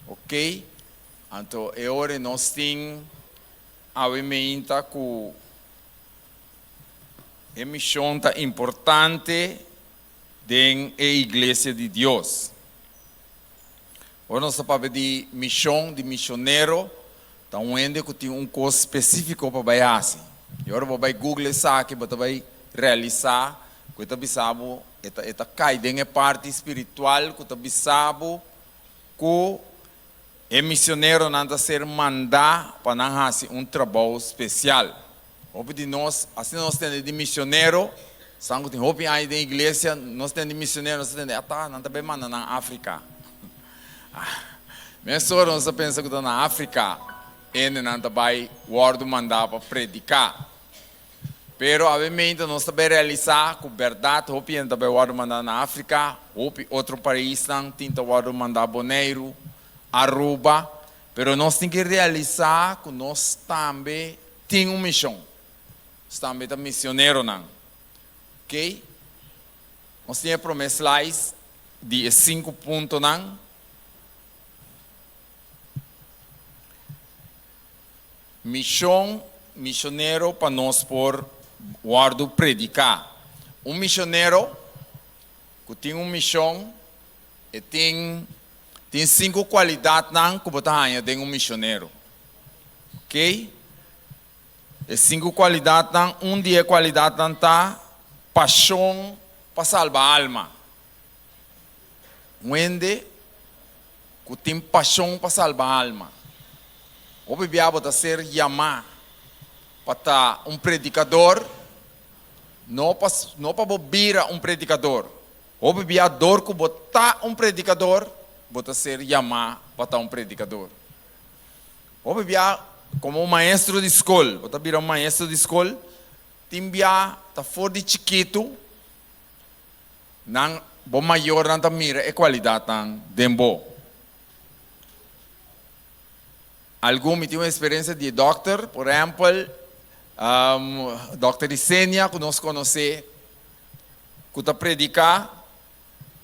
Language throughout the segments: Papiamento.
Ok, anto e ore nos tin awe meinta cu e mision ta importante den e Iglesia di Dios. Ora nos ta papia di mision, di misionero, ta un hende cu tin un cos specifico pa bay haci. Y ora bo bay google esaki bo ta bay realisa cu e ta bisa bo e ta cay den e parti spiritual cu ta bisa bo ku e misioneronan ta ser mandá pa nan hasi un trabou spesial. Hopi di nos, asina nos tende di misionero, san ku tin hopi aña den iglesia, nos tende di misionero, nos ta tende, Atá, nan ta bai manda nan Afrika. Mesora nos ta pensa ku ta na Afrika endenan ta bai wòrdu mandá pa prediká. Pero awe mente nos ta bai realisa cu berdad hopi hende ta bai wordo manda na Africa, hopi otro paisnan tin ta wordo manda Boneiru, Aruba, pero nos tin ki realisa cu nos tambe tin un mision, nos tambe ta misioneronan, ok. Nos tin e prome slides di e cinco puntonan. Mishon, Mishonero pa nos por wòrdu prediká. Un mishonero ku tin un mishon e tin tin sinku kualidatnan ku bo ta haña den un mishonero. Ok. E sinku kualidatnan, un di e kualidatnan ta pashon pa salba alma. Un hende ku tin pashon pa salba alma. Hopi bia bo ta ser yamá pa ta un predikador, no pa bo bira un predikador. Hopi bia dor ku bo ta un predikador, bo ta ser yamá pa ta un predikador. Hopi bia komo un maestro di skol, bo ta bira un maestro di skol, tin bia ta for di chikitu. nan, bo mayornan ta mira e kualidatnan den bo. Algun mi tin un eksperensia di e dòkter, por ehèmpel, dòkter Isenia ku nos konosé ku ta prediká,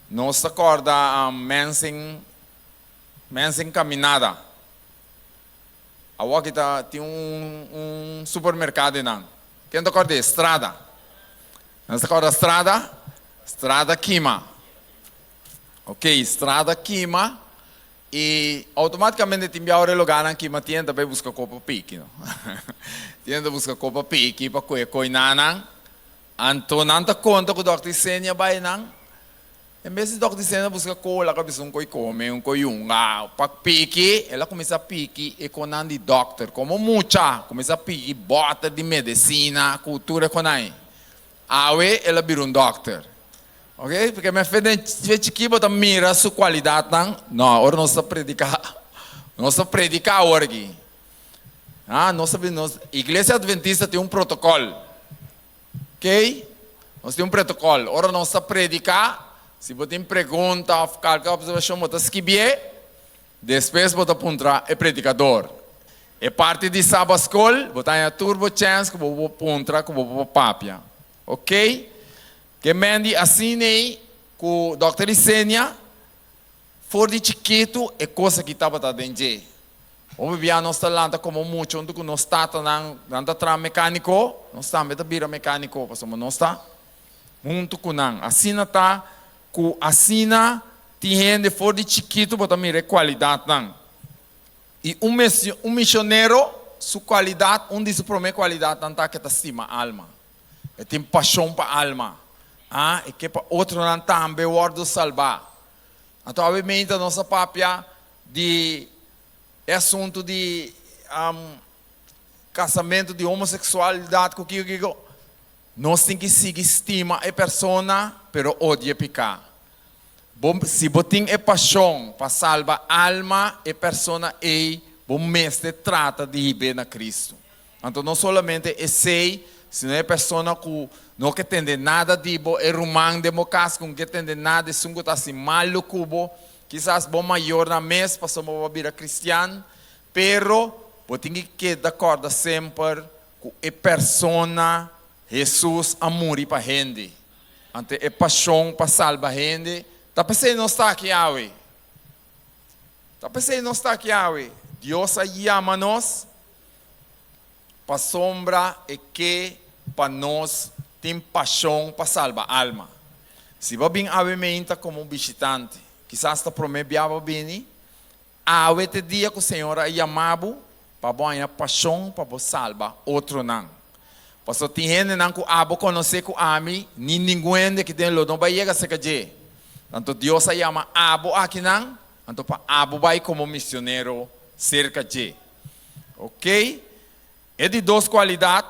nos ta kòrda mènsen, mènsen kaminada. Awòkita tin un supermerkado einan, Ken ta kòrda e strada? Nos ta kòrda strada? Strada kima. Ok, strada kima i outomátikamente tin biawe e logánan kima tien ta bai buska kopa piki. Tien ta buska kopa piki pa kue koinanan. Anto nan ta konta ku dòkter Isenia bai nan. En bes di tok di sena buska kola ka bisa un koi kome, un koi yunga, pa piki, el a kuminsá piki e konan di dòkter. Komo mucha kuminsá piki bòter di medesina ku tur e konai, awe el a bira un dòkter. Oke, paske mi a fe den fe chikí bo ta mira su kualidatnan. No, ora nos ta prediká, nos ta prediká awor aki. Aa nos ta bini nos, Iglesia Adventista tin un protokòl. Key, Nos tin un protocol. Ora nos ta predica, si bo tin pregunta of calke observacion bo ta skibie, despues bo ta puntra e predicador. E parti di Sabbat School bo ta haña tur bo chance cu bo por puntra cu bo por papia. Ok, Ke Mandy, Asin'ey cu Dokter Yesenia. For di chikitu e kos aki tabata den dje. Hopi bia nos ta lanta komo mucha huntu ku nos tatanan, nan ta traha mekániko, nos tambe ta bira mekániko pasobra nos ta huntu ku nan. Asina ta ku asina tin hende for di chikitu bo ta mira e kualidatnan. I un mes un misionero su kualidat, un di su promé kualidatnan ta ku e ta stima alma. E tin pashon pa alma. A e ke pa otronan tambe wòrdu salbá. Anto awe meinta nos a papia di e asuntu di kasamentu di homoseksualidat ku kiko kiko. Nos tin ki sigui stima e persona pero odia piká. Bo si bo tin e pashon pa salba alma e persona ei bo mester trata di hib'é na Kristu. Anto no solamente esei, sino e persona ku no ke tende nada di bo, e ruman den bo kas ku no ke tende nada, esun ku ta hasi malu ku bo, kisas bo mayornan mes, pasobra bo a bira kristian, pero bo tin ke keda kòrda semper ku e persona Hesus a muri pa hende. Anto e pashon pa salba hende ta p'esei nos ta aki awe. Ta p'esei nos ta aki awe. Dios a yama nos Pasobra e ke pa nos tin pashon pa salba alma. Si bo bin awe meinta komo un bishitante, kisas ta promé bia bo bini awe te dia ku Señor a yama bo pa bo haña pashon pa bo salba otronan. Paso tin hendenan ku abo konosé ku ami ni ningun hende aki den lo no bai yega serka dje. Tantu Dios a yama abo akinan, anto pa abo bai komo misionero serka dje. Okey, e di dos kualidat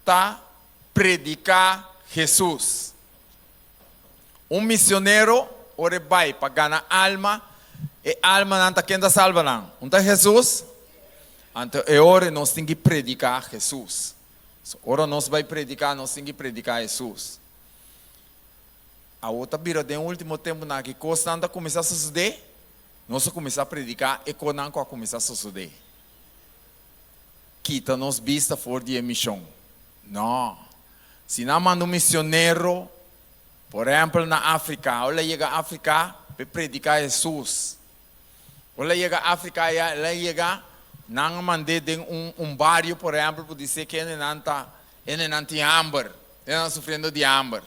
ta prediká Hesus. Un misionero ora e bai pa gana alma, e almanan ta ken ta salba nan? Un ta Hesus, anto e ora nos tin ki prediká Hesus. So ora nos bai prediká nos tin ki prediká Hesus. Awo ta bira den último tempunan akí, kosnan ta kuminsá sosodé. Nos a kuminsá prediká e kosnan ku a kuminsá sosodé. Kita nos bista for di e mishon. Nò. Si nan manda un misionero, por ehèmpel na Afrika, ora el a yega Afrika pa e prediká Hesus. Ora el a yega Afrika ya, el a yega, nan a mand'é den un un bario, por ehèmpel, pa disé ku hende nan ta, hende nan tin hamber, hende nan sufriendo di hamber.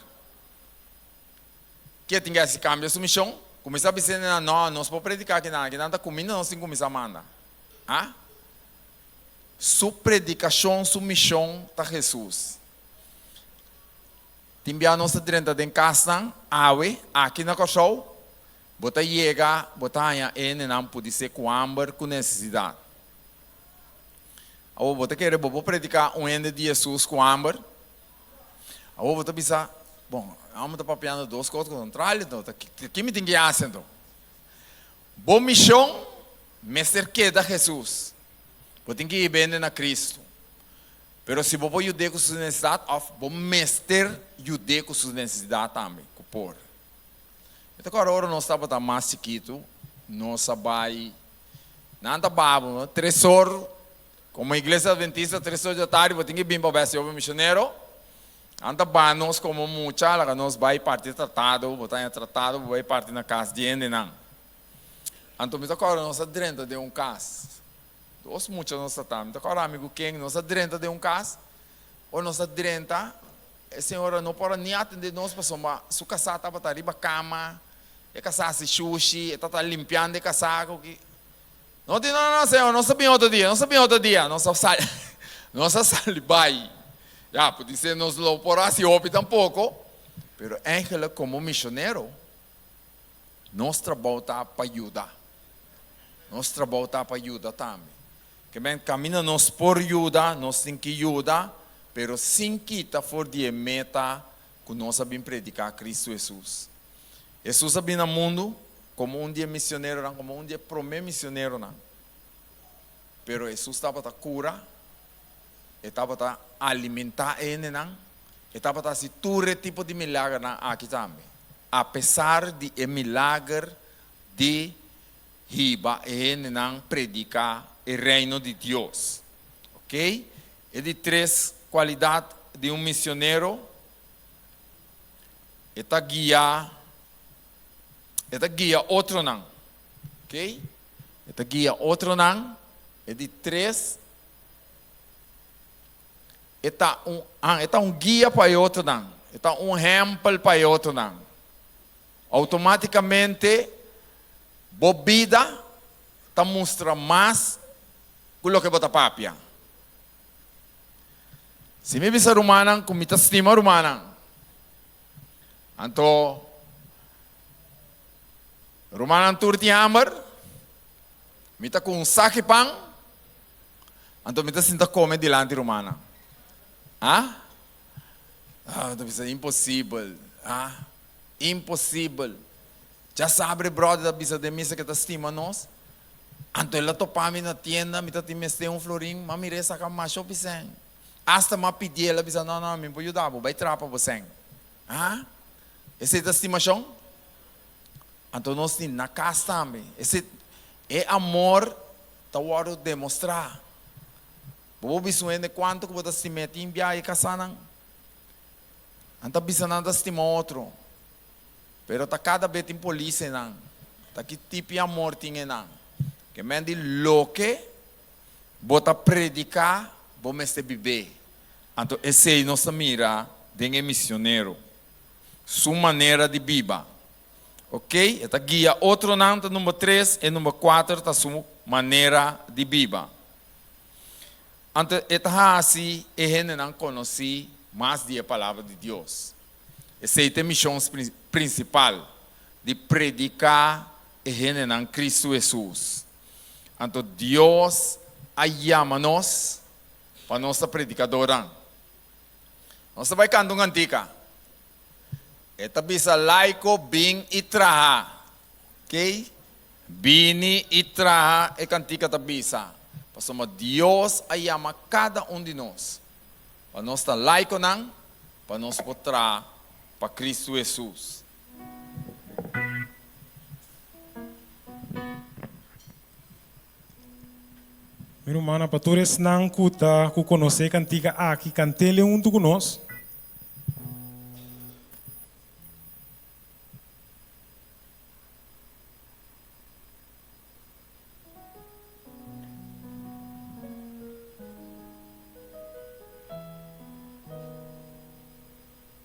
Ke tin k'e si kambia su mishon? Kuminsá bis'e nenan, No, nos por prediká kinan, kinan ta kuminda nos tin kuminsá manda. A Su predikashon, su mishon ta Hesus. Tin bia nos ta drenta den kasnan awe, aki na Kòrsou. Bo ta yega, bo ta haña e nenan pudisé ku hamber, ku nesesidat. Awo bo ta kere bo por prediká un hende di Hesus ku hamber? Awor bo ta bisa, Bon, amo ta papiando dos kos kontrali, enton ta ke mi tin ke hasi enton? Bo mishon mester keda Hesus. Bo tin ke bende na Kristu. Pero si bo por yud'é ku su nesesidat òf bo mester yud'é ku su nesesidat tambe, ku por. Mi ta kòrda ora nos tabata mas chikitu, nos a bai, nan ta baba, tresor. Komo Iglesia Adventista Tres Ocho Tardi bo tin ke bin pa bai Señor bo Misionero? Nan ta ban nos komo mucha laga nos bai parti e tratado, bo ta haña tratado bo bai parti na kas di hendenan. Anto mi ta kòrda nos a drenta den un kas, dos mucha nos ta ta, mi ta kòrda ami ku Ken, nos a drenta den un kas, ora nos ta drenta e señora no por a ni atende nos pasobra su kasá tabata riba kama, e kasá hasi shushi, e tabata limpiando e kasá, No tin nada na hacer, nos a bin otro dia, nos a bin otro dia, nos a sali, nos a sali bai. Ya, por dice nos lo por haci hopi tampoco, pero eigenlijk como misionero nos trabao ta pa yuda, nos trabao ta pa yuda tambe. Kebyen caminda nos por yuda, nos tin ki yuda, pero sin kita for di e meta ku nos a bin prediká Kristu Hesus. Hesus a bin na mundu komo un di e misioneronan, komo un di e promé misioneronan. Pero Hesus tabata kura, e tabata alimentá e hendenan, e tabata hasi tur e tipo di milagernan aki tambe, apesar di e milager di hiba e hendenan prediká e Reino di Dios. Oke, E di tres kualidat di un misionero, e ta guia, e ta guia otronan, ok, e ta guia otronan, e di tres, e ta un, ah, e ta un guia pa e otronan, e ta un hèmpel pa e otronan. Outomátikamente bo bida ta mustra mas ku loke bo ta papia, Si mi bisa rumannan ku mi ta stima rumannan, anto rumannan tur tin hamber, mi ta ku un saki pan, anto mi ta sinta kome dilanti rumannan. A? Ah, mi ta bisa, Imposibel! A? Imposibel! Dja sabri e bròder ta bisa den mi seke ta stima nos. Anto el a topa mi na tienda, mi ta tin mester un florin, ma mi rei saka masha hopi sèn. Asta m'a pidié, el a bisa, Nò, nò, mi por yuda bo, bai trapa bo sèn. Ha? Esei ta stimashon? Anto nos tin na kas tambe. Esei, e amor ta wòrdu demostrá. Bo por bisa un hende kuantu ku bo ta stim'é tin biaha e kasá nan? Nan ta bisa nan ta stima otro, pero ta kada be tin polis enan. Ta ki tipi amor tin enan. Ke men di loke bo ta prediká, bo mester bib'é. Anto esei nos ta mira den e misionero, su manera di biba. Ok, e ta guia otronan ta number tres, e number kuater ta su manera di biba. Anto e ta hasi e hendenan konosí mas di e Palabra di Dios. Esei ta e mishon prinsipal, di prediká e hendenan Kristu Hesus. Anto Dios a yama nos pa nos ta predikadónan. Nos ta bai kanta un kantika. E ta bisa Laiko bin i traha. Kei? Bini i traha e kantika ta bisa, pasobra Dios a yama kada un di nos pa nos ta Laikonan pa nos por traha pa Kristu Hesus. Mi rumannan, pa tur esnan ku ta ku konosé e kantika aki, kant'el huntu ku nos.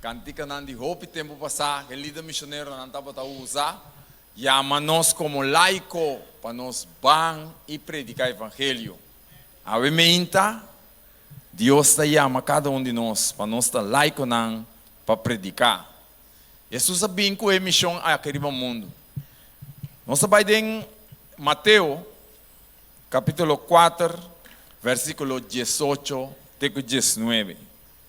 Cantikanan di hopi tempu pasá ku e lider misioneronan tabata usa, yama nos komo laiko pa nos ban i prediká evangelio. Awe meinta, Dios ta yama kada un di nos pa nos ta laikonan pa prediká. Hesus a bin ku e mishon aki riba mundu. Nos ta bai den Mateo kapítulo kuater, vèrsikulo diesocho te ku diesnuebe.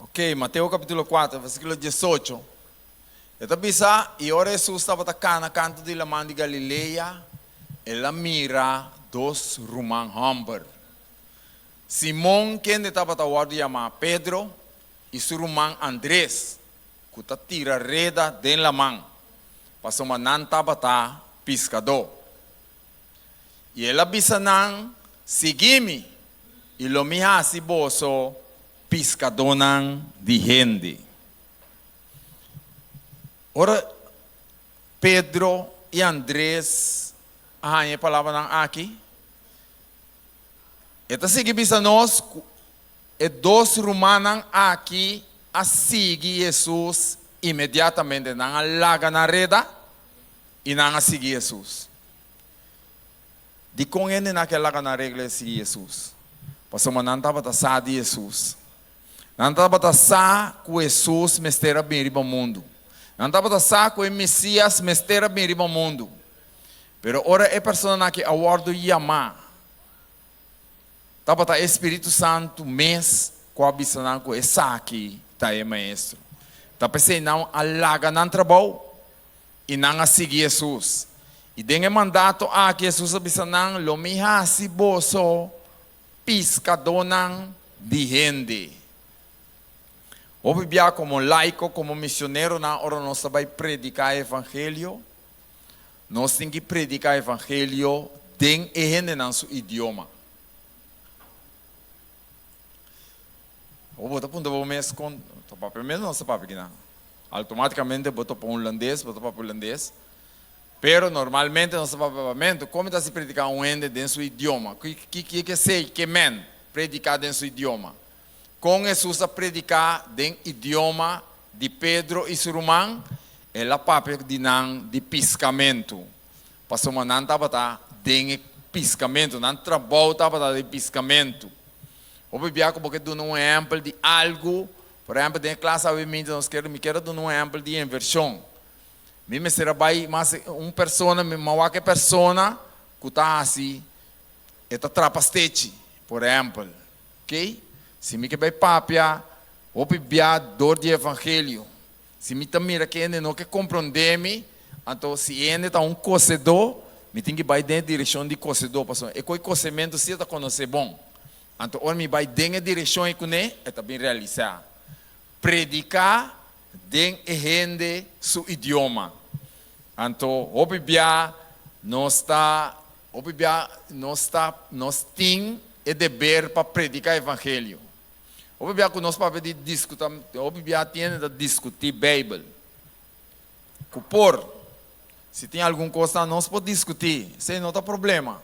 Ok, Mateo capítulo 4, versículo 18. E ta bisa, y ora Jesús tabata cana canto di laman di Galilea, el a mira dos ruman homber, Simón, kende tabata wordo yama Pedro, y su ruman Andrés. ku ta tira reda den laman, pasobra nan tabata piskadó. I el a bisa nan, Sigui mi, i lo mi hasi boso piskadónan di hende. Ora Pedro i Andres a haña e palabranan aki. E ta sigui bisa nos cu e dos rumannan aki a sigui Jesus inmediatamente. Nan a laga nan reda y nan a sigui Jesus. Dicon hende nan a ke laga nan regla e sigui Jesus? Pasobra nan tabata sa di Jesus. Nan tabata sa cu Jesus mester a bin riba mundo. Nan tabata sa cu e Mesias mester a bin riba mundo. Pero ora e personanan aki a wòrdu yamá, tabata e Spiritu Santu mes ku a bisa nan ku esaki ta e Maestro. Ta p'esei nan a laga nan trabou i nan a sigui Hesus. I den e mandato aki Hesus a bisa nan, Lo mi hasi boso piskadónan di hende. Hopi bia, komo laiko, komo misioneronan, ora nos ta bai prediká e evangelio, Nos tin ki predica evangelio den e hendenan su idioma. Awo bo ta punta bo mes con ta papia mes? Nos ta papia kinan? Automaticamente bo ta opa un Hulandes, bo ta papia Hulandes. Pero normalmente nos ta papia Papiamento. Con mi ta hasi predica un hende den su idioma? Ki kier esey? Ke men predica den su idioma? Kon Hesus a prediká den idioma di Pedro i su ruman? El a papia di nan di piskamentu, pasobra nan tabata den e piskamentu, nan trabou tabata den piskamentu. Hopi bia ku bo ke duna un ehèmpel di algu, por ehèmpel den e klas aweminti nos keda, mi keda duna un ehèmpel di invershon. Mi mester a bai mas e un persona, mi mou wak e persona ku ta hasi, e ta trapa stechi, por ehèmpel. Key, si mi ke bay papia hopi bia dor di evangelio, si mi ta mira ke hende no ke compronde mi, anto si e hende ta un cosedo, mi tin ki bay den e direccion di cosedo, pasobra e coy cosementu si e ta conoce bon. Anto ora mi bay den e direccion ey cune e ta bin realisa. Predica den e hende su idioma. Anto hopi bia nos ta Hopi bia nos ta, nos tin e deber pa predica evangelio. Hopi bia cu nos papia di discuta, hopi bia tiende ta discuti Bijbel. Cu por, si tin algun cosnan nos por discuti, esey no ta problema.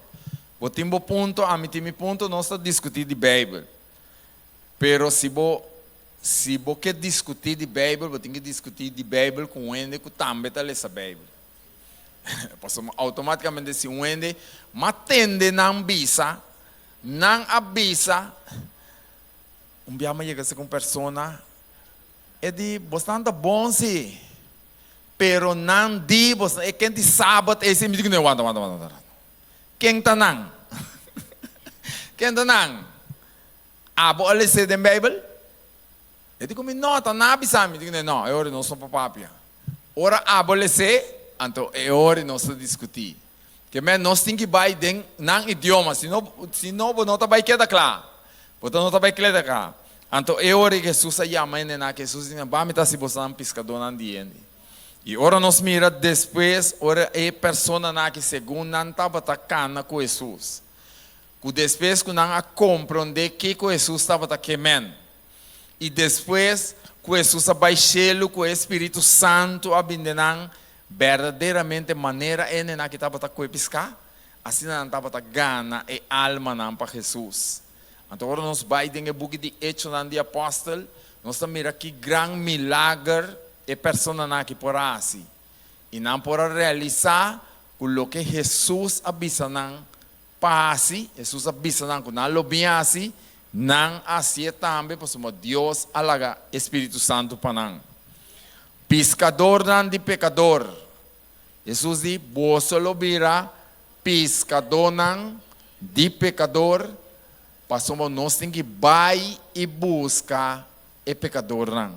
Bo tin bo punto, ami tin mi punto, nos ta discuti di Bijbel. Pero si bo, si bo ke discuti di Bijbel, bo tin ke discuti di Bijbel cu un hende cu tambe ta lesa Bijbel. Pasobra mi outomaticamente si un hende ma tende nan bisa, nan a bisa, un biaha mi a yega esaki un persona, e di bosnan ta bon si, pero nan di bos, e ken di sabat ey si, mi di kende, wanta, wanta, wanta, wanta, ken ta nan? ken ta nan? Abo a lese den bijbel? E di ku mi, No, ta nan a bisa mi. Mi di ku ne, No, e ora nos no por papia. Ora abolesé, anto e ora nos ta diskutí. Ke mester nos tin ki bai den nan idioma, si no, si no bo no ta bai keda kla. Bo ta no ta bai kleda kla. Anto e ora Hesus a yama hendenan, ke Hesus di nan, Ban mi ta hasi boso nan piskadonan di hende. I ora nos mira despues, ora e personanan aki, segun nan tabata kana ku Hesus, ku despues ku nan a komprondé kiko Hesus tabata ke men, I despues ku Hesus a bai shelu ku e Spiritu Santu a bin den nan, berdaderamente manera e nenaki tabata kue piská, asina nan tabata gana e almanan pa Hesus. Anto ora nos bai den e buki di Echonan di Apòstel, nos ta mira ki gran milager e personanan aki por a hasi, i nan por a realisá ku loke Hesus a bisa nan Pa hasi, Hesus a bisa nan ku nan lo bin hasi, nan a hasié tambe pasobra Dios a laga e Spiritu Santu pa nan. Piskadornan di pekador. Hesus di, Boso lo bira piskadónan di pekador, pasobra nos tin ki bai i buska e pekadornan.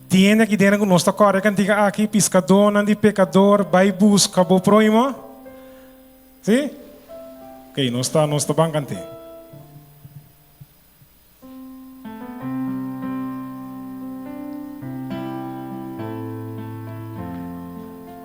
Tiene aki dena cu nos ta core cantica aki, Piscadornan di pecador, bai busca bo proimo. Si? Ok, nos ta, nos ta ban cante.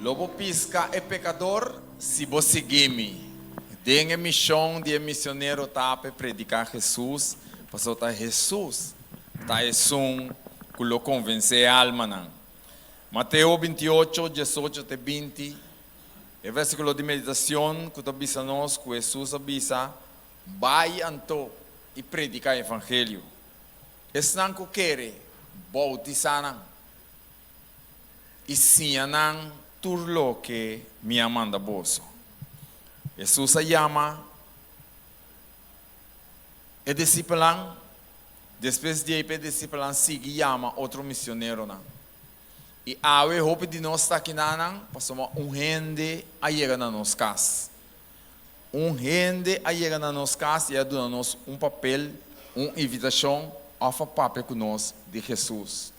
Lo bo pisca e pecador si bo sigui mi. Den e mision di e misionero ta pe predica Jesús, pasobra Jesús ta esun cu lo convence e almanan. Mateo binti-ocho, diesocho te binti, E versiculo di meditacion cu ta bisa nos cu Jesús a bisa, Bay anto y predica e evangelio. esnan ku kere boutisá nan, i siña nan tur loke mi a manda boso. Hesus a yama e disipelnan, despues di ei pa e disipelnan sigui yama otro misioneronan. I awe hopi di nos ta aki na nan, pasobra un hende a yega na nos kas. Un hende a yega na nos kas i a duna nos un papel, un invitashon òf a papia ku nos di Hesus.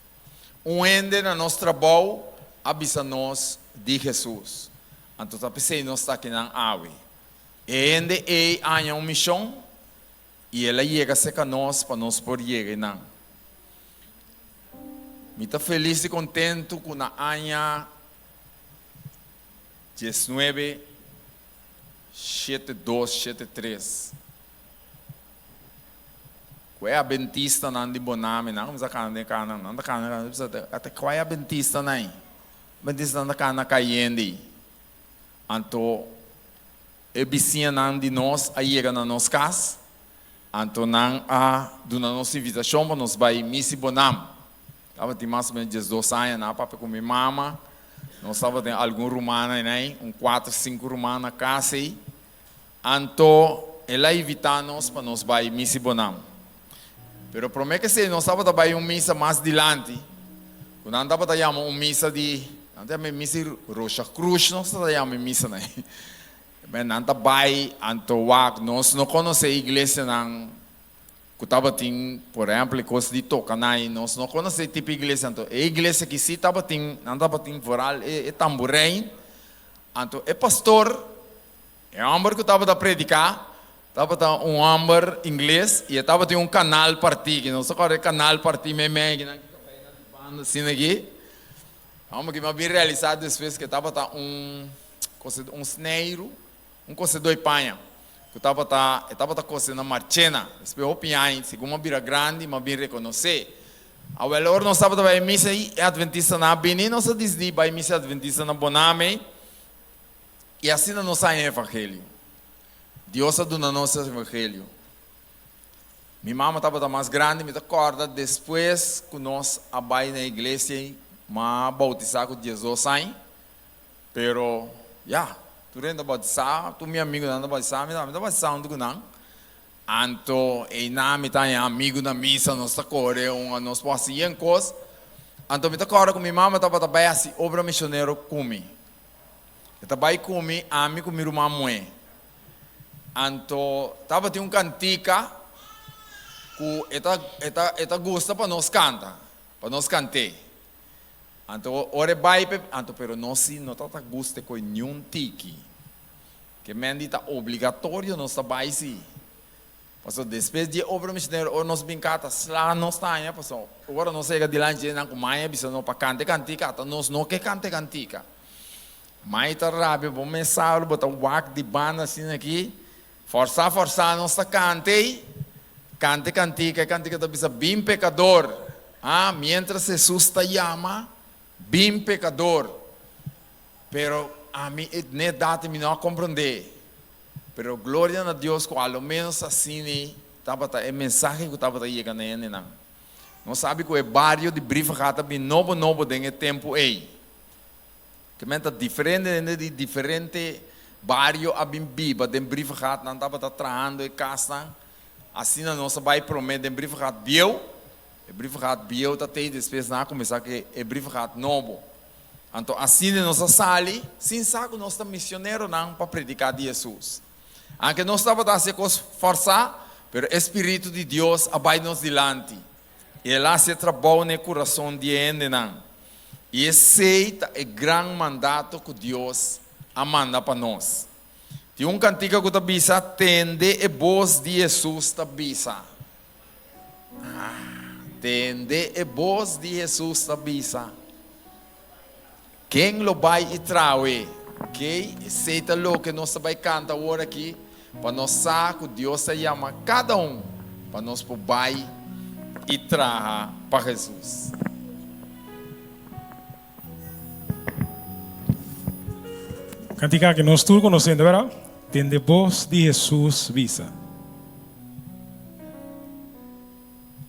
Un hende na nos trabou a bisa nos di Hesus. Anto ta p'esei nos ta akinan awe. E hende ei a haña un mishon i el a yega serka nos pa nos por yega einan. Mi ta felis i kontentu ku na haña Diesnuebe shete dos shete tres Ku e Adventistanan di Bonam e nan a kuminsá kana den e kanan, nan ta kana den e kanan, nan ta bisa, Ata kua e Adventistanan ei? E Adventistanan ta kana kayende. Anto e bisiñanan di nos a yega na nos kas, anto nan a duna nos invitashon pa nos bai Misi Bonam. Tabatin mas o menos dies dos aña na, papia cu mi mama, nos tabatin algun rumannan enai, un cuatro, cinco ruman na cas ey. Anto el a invita nos pa nos bay misa y bonan. Pero prome kesey nos tabata bay un misa mas dilanti, cu nan tabata yama un misa di, nan ta yama e misa di Rosa Cruz nos ta yama e misa na ey. Nan ta bay, anto wak, nos no conoce e iglesianan Ku tabatin, por ehèmpel, e kos di toka nai. Nos no konosé e tipo iglesia, anto e iglesia ki sí tabatin, nan tabatin vooral e tamburei. Anto e pastor, e hòmber ku tabata prediká, tabata un hòmber ingles i e tabatin un kanal partí, ki nos ta kòrda e kanal partí meimei akinan ku tabata na di banda asina aki. Hòmber ki mi a bin realisá despues ku e tabata un, kos e di, un sneiru. Un kosedoi paña ku tabata e tabata kose na Marchena. Despues hopi yaña, segun a bira grandi, m'a bin rekonosé. Awel ora nos tabata bai misa i e adventistanan a bini, nos a disidí bai misa e adventistanan Boname i asina nos haña e evangelio. Dios a duna nos e evangelio. Mi mama tabata mas grandi, mi ta kòrda despues ku nos a bai na e iglesia i m'a boutisá ku diesdos aña, Pero, ya, tur hende ta bautizá, tur mi amigunan ta bautizá, mi tambe ta bautizá huntu ku nan. Anto einan mi ta haña amigu na misa, nos ta kore un a nos por hasi yen kos. Anto mi ta kòrda ku mi mama tabata bai hasi obra misionero ku mi. E ta bai ku mi, ami ku mi ruman muhé. Anto tabatin un kantika ku e ta e ta e ta gusta pa nos kanta, pa nos kant'é. Anto ora e bai p'e anto pero nos si no ta ta gusta e koe niun tiki ke men di ta obligatorio nos ta bai si paso despues di e obra misionero ora nos bin ka ta sla nos taña paso ora nos a yega dilanchi di e nan ku mai a bisa no pa kanta e kantika ata nos no ke kanta e kantika mai ta rabia bo mes sabado bo ta wak di banda asina aki Forsá, forsá nos ta kant'ei, kant'e kantika, e kantika ta bisa, Bin pekador, a, miéntras Hesus ta yama, Bin pekador, pero ami e dne dati mi no a komprondé, pero gloria na Dios ku alo ménos asini tabata e mensahe ku tabata yega na hendenan. Nos sabi ku e bario di Brivega ta bin nobo nobo den e tempu ei, Kimen ta diferente hende di diferente bario a bin biba den Brivegaat, nan tabata trahando e kasnan, asina nos a bai prome den Brivegaat bieu, e Brivegaat bieu ta tei despues nan a kuminsá ku e Brivegaat nobo. Anto asina nos a sali, sin sa ku nos ta misioneronan, pa prediká di Hesus. Anke nos tabata hasi e kos fòrsá, pero e spiritu di Dios a bai nos dilanti. I el hasi e trabou na e kurason di e hendenan, i esei ta e gran mandato ku Dios a manda pa nos. Tin un kantika ku ta bisa, Tende e bos di Hesus ta bisa. Tende e bos di Hesus ta bisa. Ken lo bai i traho'é? Kei esei ta loke nos ta bai kanta awor aki, pa nos sa ku Dios ta yama kada un pa nos por bai i traha pa Hesus. Kantika aki nos tur konosende, wèra? Den de bos di Hesus bisa.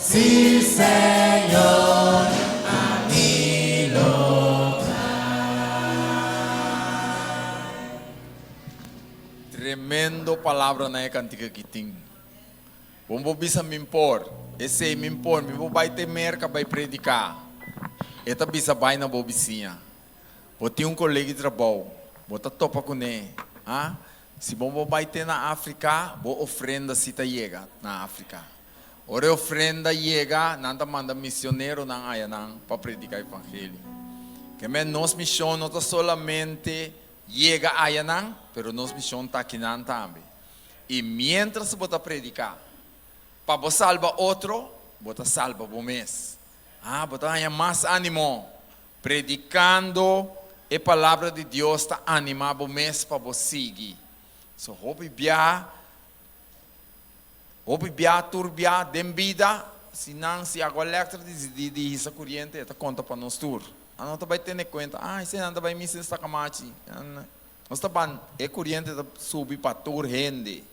Si Señor a mi lobrar. Tremendo palabra nan e cantica aki tin. Bon bo bisa min por, esey min por mi bo bay te Merca bay predica. E ta bisa bay na bo bisiña. Bo tin un colegi trabao, bo ta topa cune, ha? Si bo bo bay te na Africa, bo ofrenda si ta yega na Africa. Ora e ofrenda yega, nan ta manda misioneronan aya nan pa predica evangelio. Kemey nos mision no ta solamente yega aya nan, pero nos mision ta akinan tambe. Y mientras bo ta predica pa bo salba otro, bo ta salba bo mes. Ha, bo ta haña mas animo. Predicando e palabra di Dios ta anima bo mes pa bo sigui. So, hopi biaha. Hopi bia tur bia den bida, si nan, si Agua Electric disidí di hisa kuriente e ta konta pa nos tur. Ano ta bai tene kuenta, ah esenan ta bai misa nes takamachi. Nos ta ban e kuriente ta subi pa tur hende.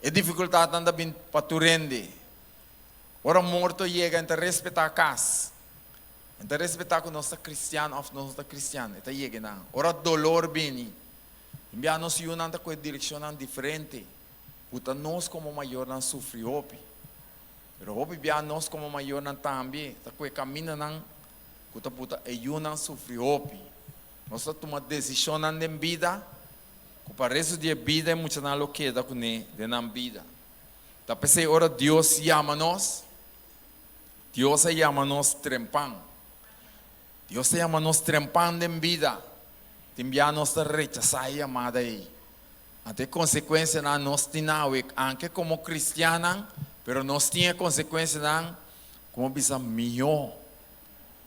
E difikultatnan ta bin pa tur hende. Ora morto yega e ta respetá kas, e ta respetá ku nos ta kristian òf nos no ta kristian, e ta yega nan. Ora dolor bini. Biaha nos yunan ta cu e direccionnan diferente, puta nos como mayornan sufri hopi, pero hopi biaha nos como mayornan tambe ta cu e caminanan cu ta puta e yunan sufri hopi. Nos ta tuma decisionnan den bida cu pa resto di e bida e muchanan lo keda cu ne den nan bida. Ta pesey ora Dios yama nos, Dios a yama nos trempan. Dios ta yama nos trempan den bida, tin bia nos ta rechasá e yamada ei. Anto e konsekuensianan nos tin awik anke komo kristiannan, pero nos tin e konsekuensianan ku bo bisa mihó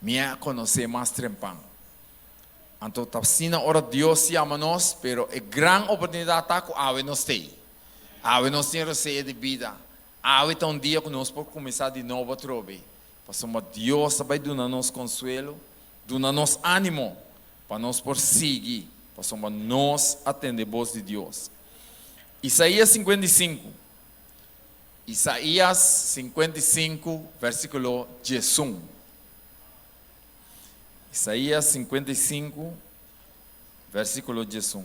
mi a konosé mas trempan. Anto ta asina ora Dios yama nos, pero e gran oportunidat ta ku awe nos ta ei. Awe nos tin reseña di bida, awe ta un dia ku nos por kuminsá di nobo atrobe. Pasobra Dios ta bai duna nos konsuelo, duna nos ánimo pa nos por sigui, pasobra nos a tende bos di Dios. Isaías singkuenta i sinku Isaías singkuenta i sinku vèrsikulo diesun Isaías singkuenta i sinku vèrsikulo diesun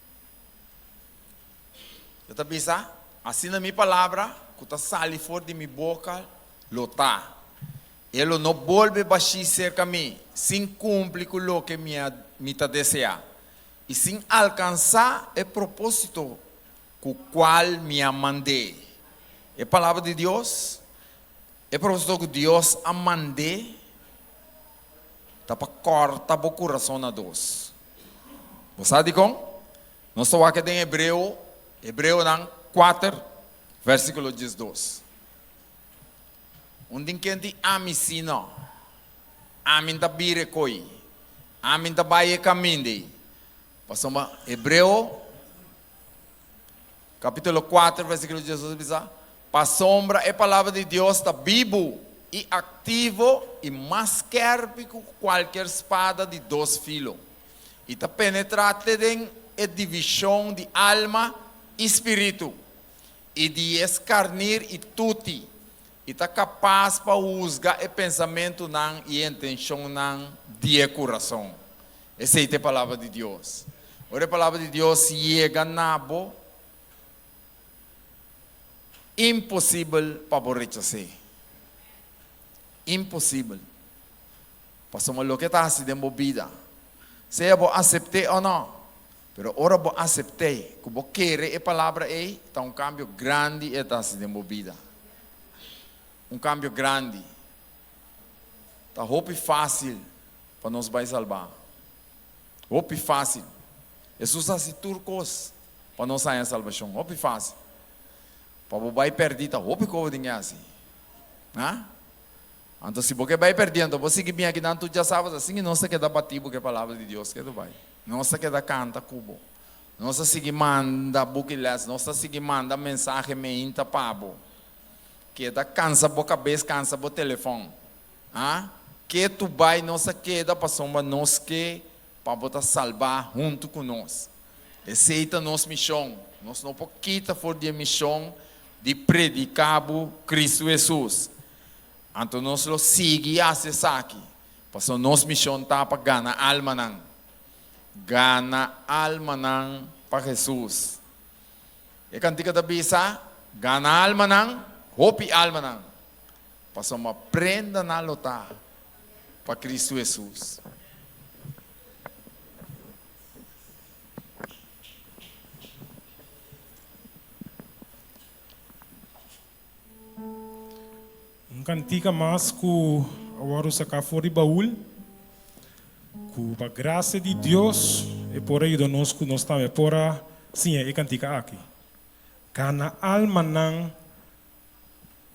E ta bisa, Asina mi palabra ku ta sali for di mi boka lo ta, e lo no bolbe bashí serka mi sin kumpli ku loke mi ta deseá i sin alkansá e propósito ku kual mi a mand'é. E palabra di Dios, e propósito ku Dios a mand'é. ta pa kòrta bo kurason na dos. Bo sa dikon? Nos ta wak e den Hebreo, Hebreonan kuater, vèrsikulo diesdos. Un tin kenti ami si nò. Ami N ta bira e koi. Ami N ta bai e kaminda ei. Pasobra Hebreo, kapitulo kuater, vèrsikulo diesdos a bisa, Pasobra e Palabra di Dios ta bibu i aktivo i mas skèrpi ku kualker spada di dos filo, i ta penetrá te den e divishon di alma i spiritu, i di es karnir i tuti, i ta kapas pa husga e pensamentunan i e intenshonnan di e kurason. Esei ta e Palabra di Dios. Ora e Palabra di Dios yega na bo. Imposibel pa bo rechas'é. Imposibel. Pasobra loke ta hasi den bo bida, sea bo asept'é o no, pero ora bo asept'é ku bo kere e palabra ei, ta un kambio grandi e ta hasi den bo bida. Un kambio grandi. Ta hopi fásil pa nos bai salbá. Hopi fásil. Hesus a hasi tur kos pa nos haña salbashon. Hopi fásil. Pa bo bai pèrdí ta hopi kos bo tin ke hasi. A? Anto si bo ke bai pèrdí, anto bo sigui bini aki nan tur djasabas. Asina ke nos ta keda batí bo ku e palabra di Dios. Ketu bai. Nos ta keda kanta ku bo. Nos ta sigui manda buki lès. Nos ta sigui manda mensahe meinta pa bo. Keda kansa bo kabes kansa bo telefon ha ke tu bai nos a keda pasobra nos ke pa bo ta salba huntu ku nos esei ta nos mishon nos no por kita for di e mishon di prediká bo Kristu Hesus anto nos lo sigui hasi esaki pasobra nos mishon ta pa gana almanan gana almanan pa Hesus. E kantika ta bisa, Gana almanan, hopi almanan, pasobra prendanan lo ta pa Kristu Hesus. Un kantika mas ku a wòrdu saká for di baul, ku pa grasia di Dios e por a yuda nos ku nos tambe por a siña e kantika aki, Gana almanan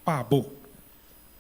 pa bo.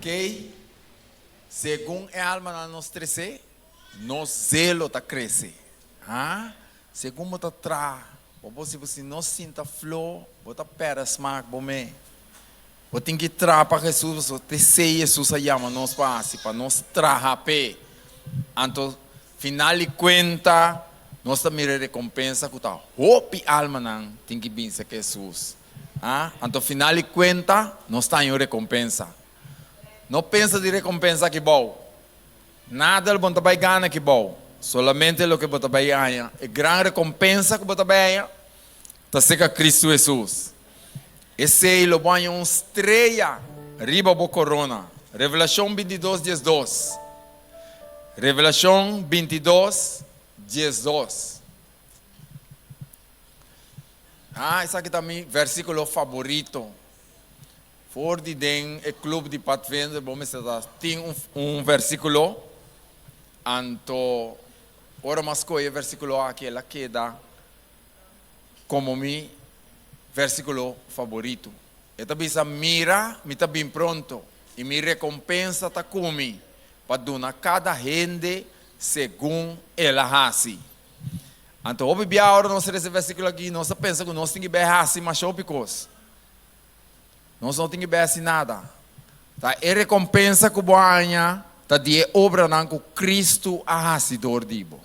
Kei, segun e almanan nos tres'é, nos zelo ta krese. Ha, segun bo ta traha, bo por si bo si no sinta fló, bo ta pèrdè smak bo mei. Bo tin ki traha pa Hesus pasobra ta esei Hesus a yama nos pa hasi, pa nos traha p'é. Anto, final di kuenta, nos ta mira e rekompensa ku ta hopi almanan tin ki binse ka Hesus. Anto final di kuenta nos ta haña un rekompensa. No pensa di rekompensa aki bou. Nadal bon ta bai gana aki bou. Solamente loke bo ta bai haña, e gran rekompensa ku bo ta bai haña, ta serka Kristu Hesus. Esei lo bo haña un streya riba bo korona. Revelashon bintidos dies dos. Revelashon bintidos dies dos. Ah, esaki ta mi versículo favorito. Voor di den e club di Pathfinder, bo mester ta tin un, un versículo. Anto, ora mi a scoge e versículo aki, el a keda como mi versículo favorito. E ta bisa, Mira, mi ta bin pronto, i mi recompensa ta cu mi, pa duna cada hende segun el a haci. Anto hopi bia ora nos resa e versíkulo akí, nos ta pensa ku nos tin ki bai hasi masha hopi kos. Nos no tin ki bai hasi nada. Ta e rekompensa ku bo a haña ta di e obranan ku Kristu a hasi dor di bo.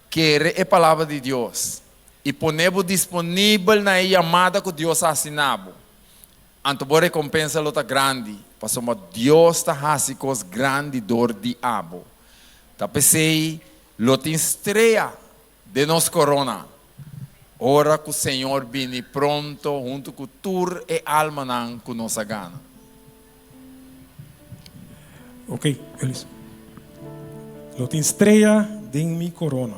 Kere e Palabra di Dios i pone bo disponibel na e yamada ku Dios a hasi na bo, anto bo rekompensa lo ta grandi, pasobra Dios ta hasi kos grandi dor di abo. Ta p'esei Lo tin strea den nos corona. Ora cu Señor bini pronto hunto cu tur e almanan cu nos a gana. Ok, Elis. Lo tin strea den mi corona.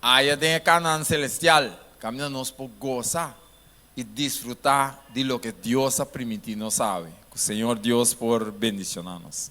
Aya den e Canaan celestial, kaminda nos por goza i disfruta di loke Dios a primiti nos awe, ku Señor Dios por bendiciona nos.